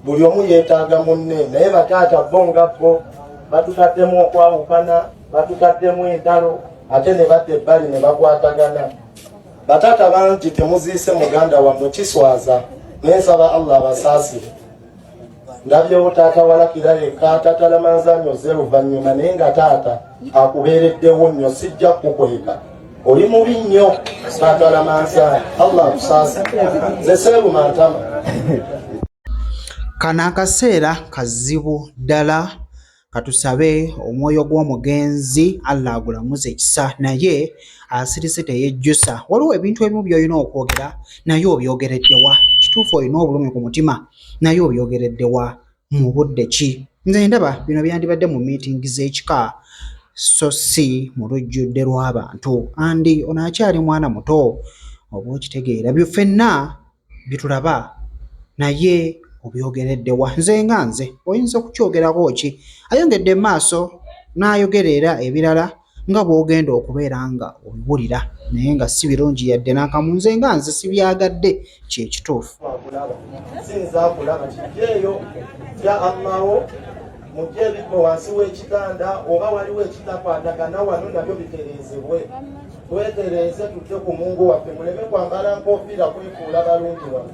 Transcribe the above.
buli omu yeetaaga munne naye bataata bo nga bo batutaddemu okwawukana batutaddemu entalo ate ne badda ebbali ne bakwatagana bataata bangi temuziise muganda wammwe kiswaza naye nsaba allah abasaasire ndabyewo taata walakira yekka tatalamanzanyo ze luvannyuma naye nga taata akubeereddewo nnyo sijja kukweka oli mubi nnyo sagala mansa allah akusaasa nze seebu mantama kano akaseera kazibu ddala katusabe omwoyo gw'omugenzi allah agulamuza ekisa naye asirise teyejjusa waliwo ebintu ebimu byolina okwogera naye obyogereddewa kituufu olina obulumi ku mutima naye obyogereddewa mu budde ki? Nze ndaba bino byandibadde mu miitingi z'ekika so si mu lujjudde lw'abantu andi ono akyali mwana muto oba okitegeera byo ffenna bitulaba naye obyogeredde wa nze nga nze oyinza okukyogerako ki ayongedde maaso n'ayogera era ebirala nga bw'ogenda okubeera nga obiwulira naye nga si birungi yadde n'akamu nze nga nze sibyagadde kye kituufu mujje ebibbo wansi w'ekitanda oba waliwo ekitakwatagana wano nabyo bitereezebwe twetereeze tujje ku mungu waffe muleme kwambala nkofiira kwefuula balungi wano